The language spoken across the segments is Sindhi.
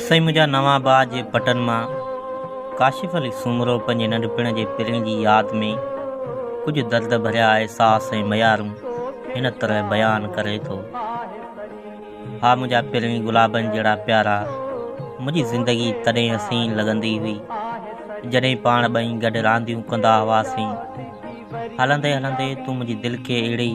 سائين منهنجا نوان آباد جي پٽن مان ڪاشف علي سومرو پنهنجي ننڍپڻ جي پرين جي ياد ۾ ڪجهه درد ڀريا احساس ۽ ميارون هن طرح بيان ڪري ٿو. ها منهنجا پرين گلابن جهڙا پيارا منهنجي زندگي تڏهن حسين لڳندي هئي جڏهن پاڻ ٻئي گڏ رانديون ڪندا هئاسين هلندي هلندي تون منهنجي دل کي اهڙي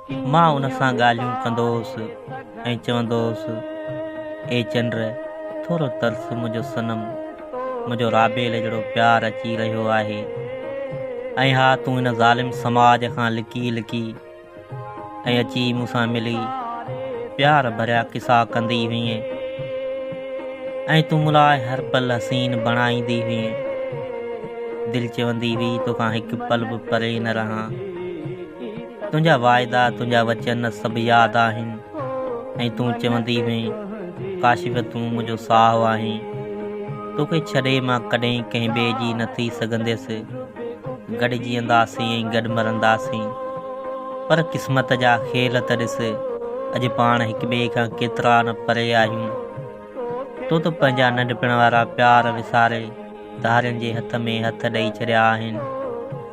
مان ان سان ڳالهيون ڪندو هوس ۽ چوندو هوس، اي چنڊ، ٿورو ترس منهنجو صنم، منهنجو رابيل جهڙو پيار اچي رهيو آهي ۽ ها تون هن ظالم سماج کان لڪي لڪي ۽ اچي مون سان ملي پيار ڀريا قصا ڪندي هئين ۽ تون مون لاء هر پل حسين بڻائيندي هئين. دل چوندي هئي توکان هڪ پل به پري نه رهان. تنهنجا واعدا تنهنجا وچن سڀ ياد آهن ۽ تون چوندي هئين ڪاشف تون منهنجو ساهه آهين توکي ڇڏي مان ڪڏهن ڪنهن ٻئي جي نه ٿي سگهنديس گڏ جيئنداسين ۽ گڏ مرنداسين پر قسمت جا کيل ته ڏس اڄ پاڻ هڪ ٻئي کان ڪيترا نه پري آهيون تو ته پنهنجا ننڍپڻ وارا پيار وساري ڌارين جي هٿ ۾ هٿ ڏئي ڇڏيا آهن.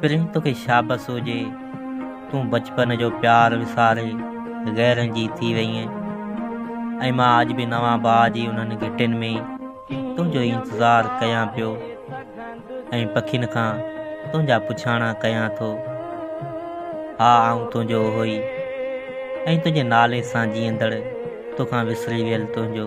پرين توکي شابس هجي، تون بچپن جو پيار وساري غيرن جي ٿي وئين ۽ مان اڄ به نوان باء جي انهن گهٽين ۾ تنهنجو ئي انتظار ڪيان پيو ۽ پکين کان تنهنجا پڇاڻا ڪيان ٿو. ها آئون تنهنجو اهوئي ۽ تنهنجي نالي سان جيئندڙ، توکان وسري ويل تنهنجو.